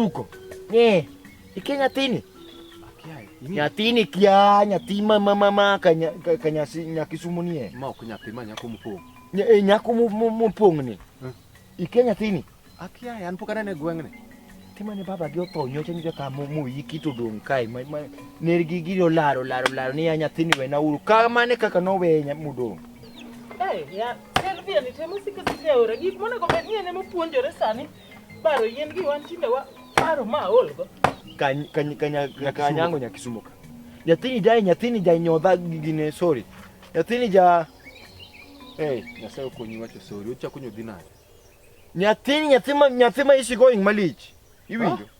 Huko. Eh. Ikia nyathini. Nyathini kia nyathi ma ma ma ma ka ka nyasi nyakisumu nie. Ma ok nyathi ma nyako mopong'. Nya, e, nyako mopong' ni. Hmm. Ikia nyathini. Akia an pok anene gweng'ni. Timane baba gi otho nyocha nyocha ka mo mo yiki to dong kai ma ma ner gi gi laro laro laro ni nyathini we na uru. Ka mane kaka no we nya mudong. Eh ya. Servia ni temo sikisikia ora gik monego bed ni en ema puonjore sani. Baro yien gi wan tinde wa baro ma olgo. Kany kany kanya kanyango nyakisumuka. Nyathini jai nyathini jai nyodha gine sorry. Nyathini ja Eh, nyasaye okonyi wacho sorry. Uchako nyodhi nade? Nyathini nyathima nyathima isi going malich. Iwinjo? Ah.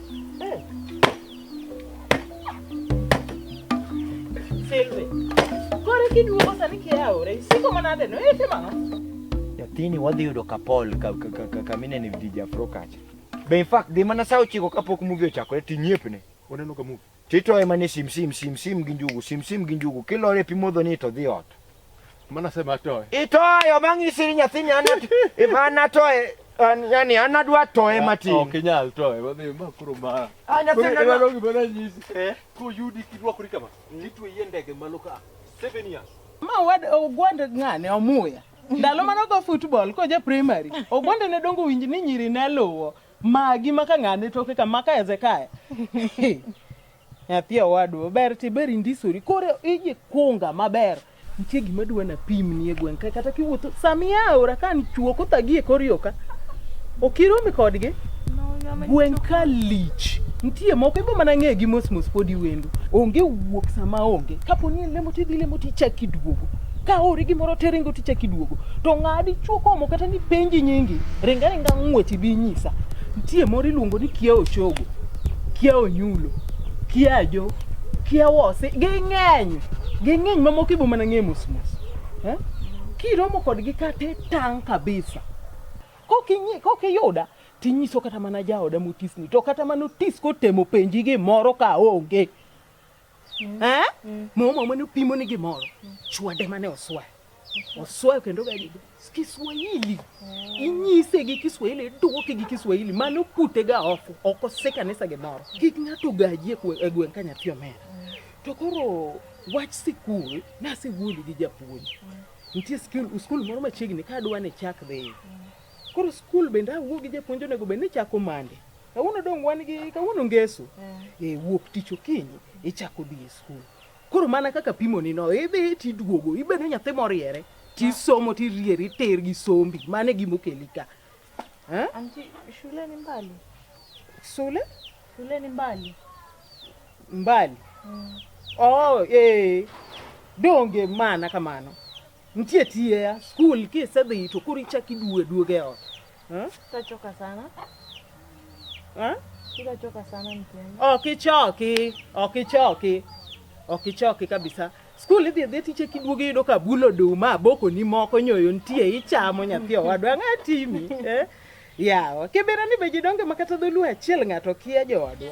Silvi. Kore kiduogo sani kiaore. Isiko manade no? Ete mano? Nyathini wadhi yudo kapol kamine ni vijafro kacha. Be in fact dhi mana saa ochiko kapok movie ochakore tinyepne. Waneno ka movie. To itoye mana e simsim simsim gi njugu simsim gi njugu kilore pi modho ni to dhi ot. Mana sema toye. Itoyo bang' isiri nyathini an if an atoye an- yani an adwa toye Ok matin. inyal toye. Wadhi ma koro ma. Ah, nyathini Koro adwa- iwalo gima nanyisi. Eh? Koyudi kirwakori kama. Nitweyi e ndege malo ka. Seven years. Ma wad ogwand ng'ane omuya. Ndalo mane ogo football koja primary, ogwande ne dongo winj ni nyiri ne luwo. Magi maka ng'ane toke ka maka Hezekia. Nyathi owadwa ber ti ber indisori. Koro iji kunga maber. Nitie gima dwa na pim nie gweng' ka kata kiwuotho samia aora ka ni chuo kothagi e kor yoka. Okiromi kodgi. Gweng' ka lich. Nitie moko ibo mana ng'e gi mos mos podi wendo. Onge wuok sama onge. Kapo ni en lemo tidhi lemo tichak iduogo. ka ori gimoro te ringo tichak iduogo to ng'adi chuo komo kata ni penji nyingi ring aringa ng'wech ibi inyisa nitie moro iluongo ni kia ochogo kia onyulo kia ajo kia wose ging'eny ging'eny mamoko ibo mana ng'e mos mos eh? kiromo kodgi kata itang' kabisa Kok inyi- kok iyuda tinyiso kata mana jaoda motisni to kata mana otis kotemo penji gimoro ka onge Mm. Eh? Mm. Mama mane opimo ni gimoro. Mm. Chwade mane oswayo. Mm-hmm. Oswayo kendo gadi Kiswahili. Mm. Inyise gi Kiswahili, duoke gi Kiswahili. Mano pute ga oko, oko se kanisa gimoro. Mm. Kik ng'ato gaji e, e gweng' ka nyathi omera. Mm. To koro wach sikul nasewuoyo gi japuonj. Mm. Nitie skul, skul moro machiegni ka adwa ni chak dhi. Mm. Koro skul bende awuo gi japuonj onego bed ni chako mande. Kawuono dong' wan gi kawuono ngeso. Eh. eh, wuok tich okinyi ichako dhi e skul. Koro mana kaka pimoni no, idhi e tiduogo, ibedo nyathi moriere, tisomo tirieri ter gi sombi, mano e gima okeli ka. Eh? Anti, shule ni mbali. Shule? Shule ni mbali. Mbali. Mm. Oh, eh. Donge mana kamano. Nitie tiye skul kisedhi to koro ichak iduogo e duogo e ot. Hmm? Tutachoka sana. Hmm? Tutachoka sana mtihani. Okichoki, okichoki. Okichoki kabisa. Skul idhi idhi tiche kiduogo iyudo ka bulo duma aboko ni moko nyoyo nitie ichamo nyathi owadwa ang'atimi. Eh? Yawa, kibera ni be jidonge makata dholuo achiel ng'ato kia jowadwa.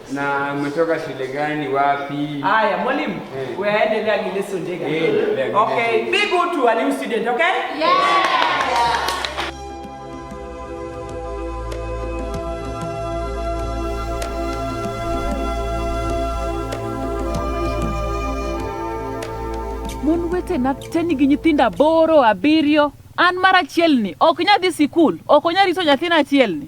Na umetoka shule gani wapi? Haya mwalimu, eh. wewe endelea ni lesson dega. Eh, okay, be good to a new student, okay? Yeah. mon wete na te nigi nyithindo aboro abiriyo an mar achielni ok nyadhi sikul ok onya rito nyathina achielni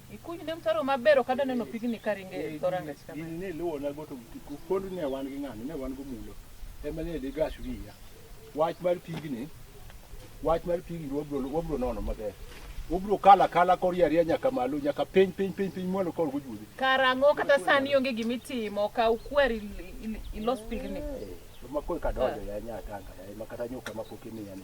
Ikuny ne mtaro maber ok adwa neno pigni ka ringo e dho rangach kama. Gini ne iluwo na go to pod ne wan gi ng'ani ne wan go mulo. Ema ne digas wiya. Wach mar pigni wach mar pigni wabro wabro nono maber. Wabro kala kala kor yaria nyaka malo nyaka piny piny piny piny mwalo kor gujudhi. Karang'o kata sani onge gima itimo ka ukwer il- il- ilos pigni. Makoi kadonjo ya nyaka anga ya makata nyuka mapok imiya ni.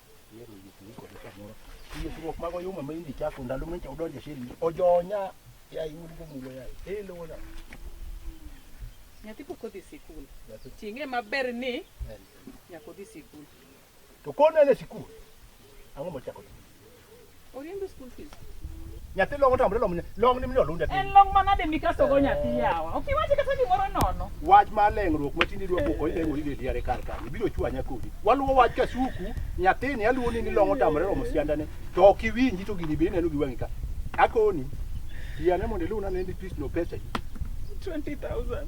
Ikruok mag oyuma ma indi chako ndalo ma odonjo e sheri ojonya ya iwuod go mulo ya e lowo na nyathi pok odhi sikul ting'e maber ni nyaka odhi sikul to konene sikul ang'o mochako Oriembe school fees. Nyathi long otamre long long ni mino lunda. En long mana de mikaso go nyathi yawa. Ok iwache kata gimoro nono. Wach ma leng'ruok ma tindi dwa poko ile wori deli are kar kar. Ibiro chwanya kodi. Waluwo wach ka suku nyathini aluwo ni ni long otamre romo sianda ne. To ok iwinji to gini bende neno gi wang'i ka. Akoni. Yane mondo iluna ne ni pis no pesa. 20,000.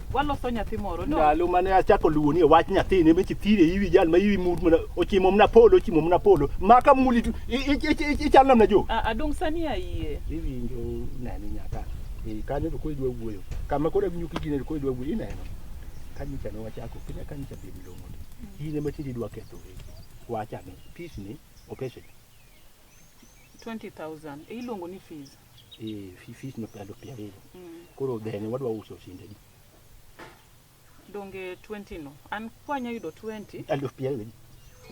waloso nyathi moro no ndalo mane achako luwo ni wach nyathi ne mechi thire iwi jal ma iwi mut mana ochimo mna polo ochimo mna polo maka muli tu i- i- i- i- ichal namna jo A- adong sani ayie iwinjo nani nyaka e kane to koro idwa wuoyo kama koro awinjo kigine to koro idwa wuoyo ineno kanyicha ne wachako kenya kanyicha be milongo ni in ema tinde idwa ketho wegi wachane peace ni opeshe 20000 iluongo ni fees Eh, fifi no pia do pia rere. Mm. Koro then wadwa uso sinde di. Donge 20 no. An kwanya yudo 20. Alo pia rere.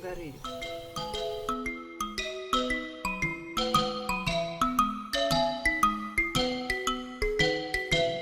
Gari.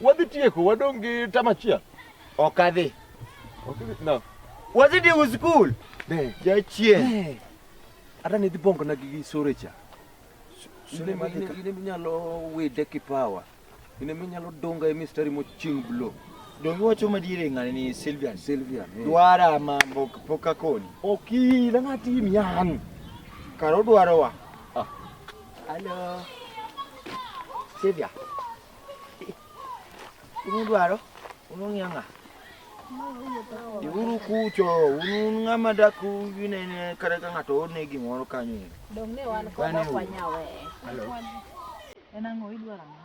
Wadhi tieko, wadong' gi tam achiel. Ok adhi. Ok adhi, no. Wadhi tieko skul. Ne. Jachien. Ne. Hata nidhi bongo na gi sore cha. Sore ma dhika. Ine minyalo wide kipawa. Ine minyalo donga e mistari moching blow. Dongi wacho madiere ng'ani ni Sylvian. Sylvian. Eh. Dwara mambo pok akoni. Oki, na ng'ati miyan. Karo dwarowa. Ah. Hello. Sylvia. Unu dwaro? Unu ng'iyo ng'a? Dhiuru kucho, un ng'ama dak unene kata ka ng'ato orne gimoro kanyo ero. Dong ne wan kod ok wanyawe. Hello. En ang'o idwaro ang'o?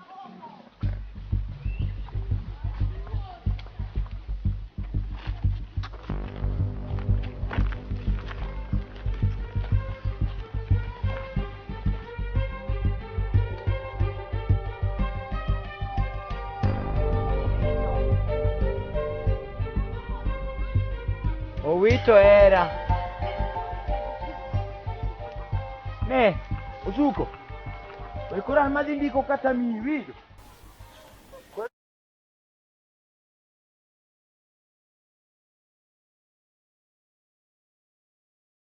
Owito era. Ne, usuko. Wewe kora madhi ndiko kata miwili.